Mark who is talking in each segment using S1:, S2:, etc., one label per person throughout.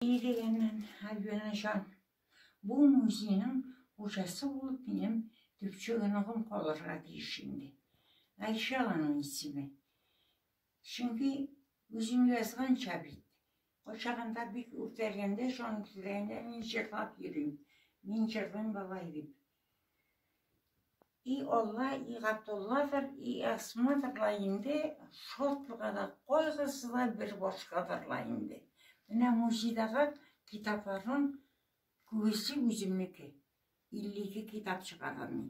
S1: И дигәннән, Альбина җан, бу музейның хуҗасы булып минем төпчек оныгым калырга тиеш инде. Гайшә аның исеме. Чөнки үзем язганча бит, кайчагында бик үртәлгәндә җан күтәргәндә мин җырлап йөрим. Мин җырлыйм бабай дип. И Алла, и Гатулладыр, и Әсмадыр ла инде, шатлыгы да, кайгысы да бер башкадыр ла инде. Менә музейдагы китапларның күбесе үземнеке. 52 китап чыгардым мин.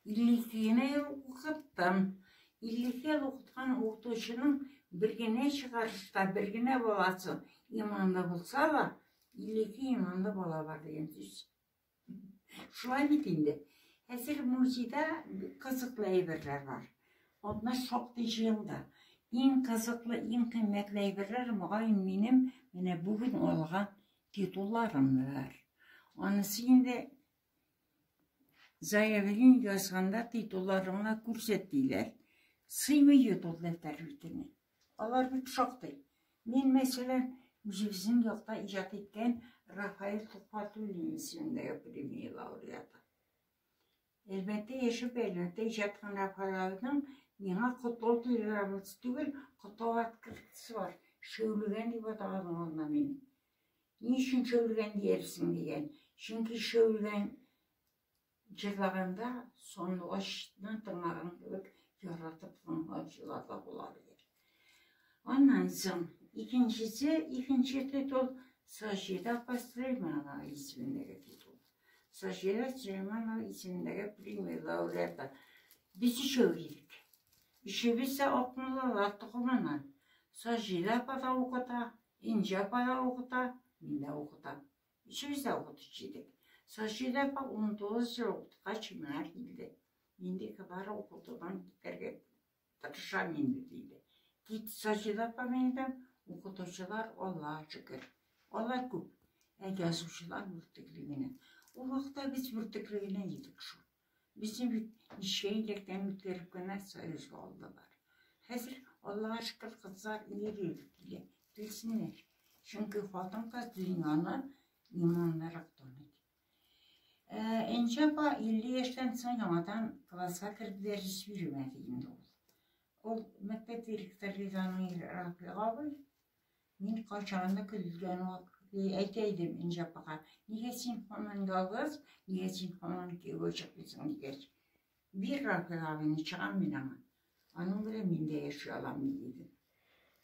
S1: 52 генә ел укыттым. 52 ел укыткан укытучының бер генә чыгарышта, бер генә баласы иманлы булса ла, 52 иманлы бала бар дигән сүз. Шулай бит инде. Хәзер музейда кызыклы әйберләр бар. Анда шактый җыелды. Иң кызыклы, иң кыйммәтле әйберләр, мөгаен, минем менә бүген алган титулларымдыр. Анысы инде заявление язганда титулларыңны күрсәт диләр. Сыймый ютул дәфтәр битенә. Алар бит шактый. Мин, мәсәлән, үзебезнең якта иҗат иткән Рафаэль Төхфәтуллин исемендәге премия лауреаты. Әлбәттә, яшәп, әлбәттә, иҗат иткән Рафаэль абыйның миңа котлау телеграммасы түгел, котлау открыткасы бар. Шәүлегән дип атаган ул анда мине. Ни өчен шәүлегән диярсең дигән. Чөнки шәүлегән Җырлаганда сандугачны тыңлаган кебек яратып тыңлаучылар да була бит. Аннан соң икенчесе, икенче титул Саҗидә апа Сөләйманова исемендәге титул. Саҗидә Сөләйманова исемендәге премия лауреаты. Без өчәү идек. Өчебез дә Акмуллалар токымыннан. Саҗидә апа да укыта, Инҗә апа да укыта, мин дә укытам. Өч өйдә укытучы идек. Сочида апа унтугыз ел укыткач миңа килде. Инде бар укытудан китәргә тырышам инде, диде. Кит, Сочида апа миндә укытучылар, Аллага шөкер. Алар күп. Ә язучылар бөртекле генә. Ул вакытта без бөртекле генә идек шул. Безне бит ничә иләктән үткәреп кенә Союзга алдылар. Хәзер, Аллага шөкер, кызлар ир-ир килә. Килсеннәр. Чөнки хатын-кыз дөньяны иманлырак таный. Ә Энҗе апа 50 яшьтән соң яңадан класска керде дәрес бирмәде инде ул. Ул мәктәп директоры Ризаның ире Рафыйк абый. Мин кайчагында көлгән вакыт әйтә идем Энҗе апага, нигә син һаман ялгыз, нигә син һаман кияүгә чыкмыйсың дигәч, бир Рафил абыйны чыгам мин аңа. Аның белән мин дә яши алам диде.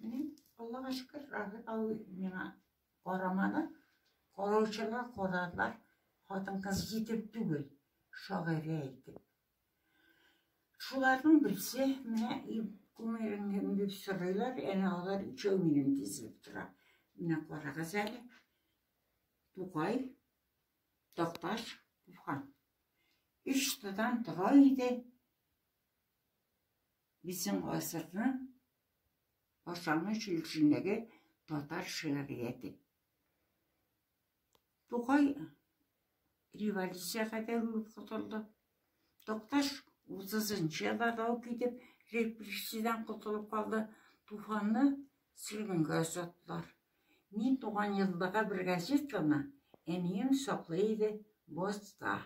S1: Менә Аллага шөкер, Рафил абый миңа карамады. Караучылар карадылар, хатын-кыз итеп түгел, шагыйрә итеп. Шуларның берсе, менә кумирың кем, дип сорыйлар, әнә алар өчәү минем, тезелеп тора. Менә карагыз әле, Тукай, Такташ, Туфан. Өч тыдан тора иде безнең гасырның башлангыч өлешендәге татар шигърияте. Тукай революция кадәр котылды. Токташ 30-нчы елда тау китеп, репрессиядән котылып калды. Туфанны сөргенгә озаттылар. Мин туган елдагы бер газетаны әнием саклый иде Боста.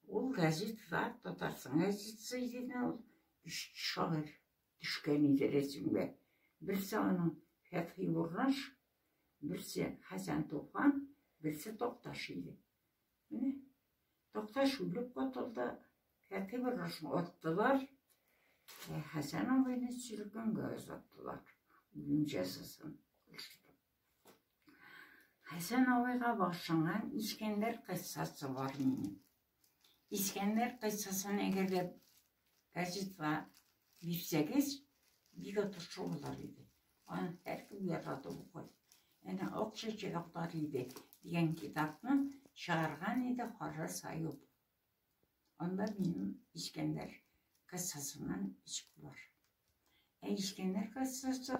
S1: Ул газетада Татарстан газетасы иде ул өч шагыйрь төшкән иде рәсемгә. Берсе аның Фәтхи Бурнаш, Берсе Хәсән Туфан, берсе Такташ иде. Менә Такташ үлеп катылды, Хәки Барашны аттылар, ә Хәсән абыйны сөргенгә озаттылар, үлем җәзасын кылыштырып. Хәсән абыйга башланган Искәндәр кыссасы бар минем. Искәндәр кыйссасын әгәр дә газетка бирсәгез, бик отышлы булыр иде. Аны һәркем яратып укый. Әнә Ак чәчәкләр иде дигән китапны чыгарган иде Харрас Аюп. Анда минем Искәндәр кыссасыннан иск бар. Ә Искәндәр кыссасы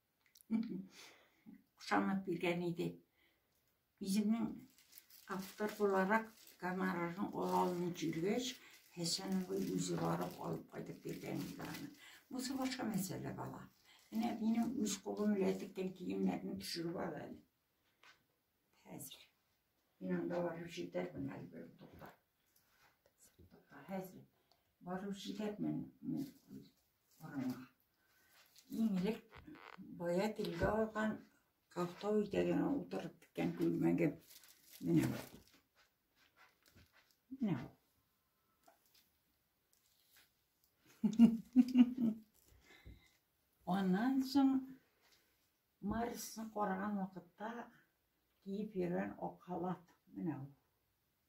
S1: Кушамат биргән иде. Үземнең автор буларак гонорарын ала алмый җиргәч, Хәсән абый үзе барып алып кайтып биргән иде аны. Бусы башка мәсьәлә бала. Менә минем үз кулым белән теккән киемнәрне төшереп ал әле. Хәзер. Мин анда барып җитәрмен әле бер тукта. Хәзер барып җитәрмен. Караңыз. Иң элек бая телгә алган кафтау итәгенә утырып киткән күлмәгем. Менә бу. Менә бу. Аннан соң Марисны караган вакытта киеп йөргән ак халат. Менә бу.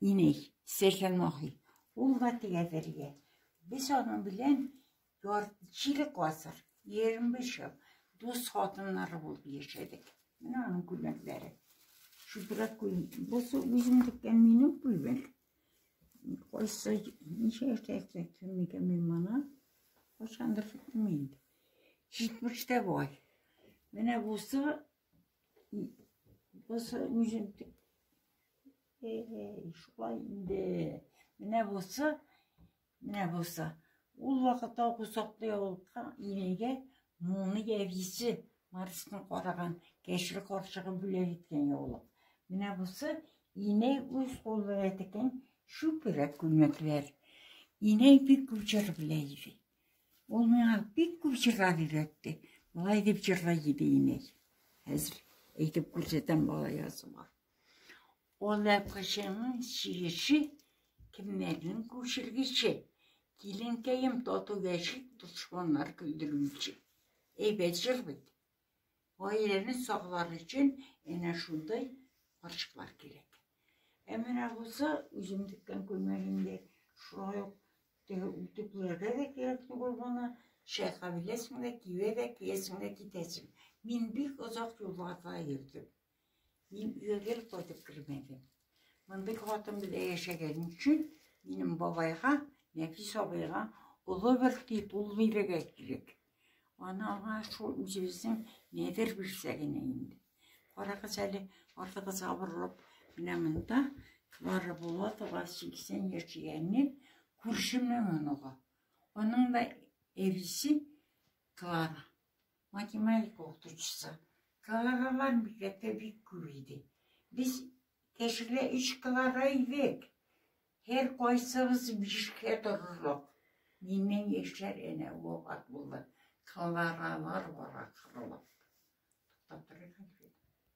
S1: Иней, Сәйхан Махи. Ул да тегәдәргә. Без аның белән чирек гасыр, 25 ел дус хатыннары булып яшәдек. Менә аның күлмәкләре. Шүбрәк күлмәк. Бусы үзем теккән минем күлмәк. Кайсы ничә яшьтә тектем микән мин моны? Кайчандыр тектем инде. Җитмештә бай. Менә бусы Бусы үзен шулай инде. Менә бусы, менә бусы. Ул вакытта кусаклы ябылкан инәйгә моны явисе Марсны караган кәшер карчыгы бүләк иткән яулык. Менә бусы инәй үз куллары теккән шүпрәк күлмәкләр. Инәй бик күп җыр белә иде. Ул миңа бик күп җырлар өйрәтте. Болай дип җырлый иде инәй. Хәзер әйтеп күрсәтәм бала язуга. Ул әпкәшеңнең чигеше, кемнәрнең күчергече. Киленкәем тату яшик, дошманнар көлдерүче. Әйбәт җыр бит. Гаиләне саклар өчен әнә шундый карчыклар кирәк. Ә менә бусы үзем теккән күлмәк инде. Шулай ук теге үтүкләргә дә кирәк түгел моны. Чайка беләсең дә, кибә дә, киясең дә, китәсең. Мин бик озак юлларда йөрдем. Мин өйгә гел кайтып кермәдем. Мондый хатын белән яшәгән өчен минем бабайга, Нәфис абыйга олы бер титул бирергә кирәк. Аны аңа шул үзебезнең нәдер бирсә генә инде. Карагыз әле, артыгыз абырылып, менә монда Клара Булатова 80 яшәгәнне күршеме моныга. Аның да әбисе Клара. Математика укытучысы. Каларалар мектәптә бик күп иде. Без кешегә өч калара идек. Һәр кайсыбыз бишкә торырлык. Миннән яшьләр әнә вафат булды. Каларалар бара кырылып. Туктап торыйк әле.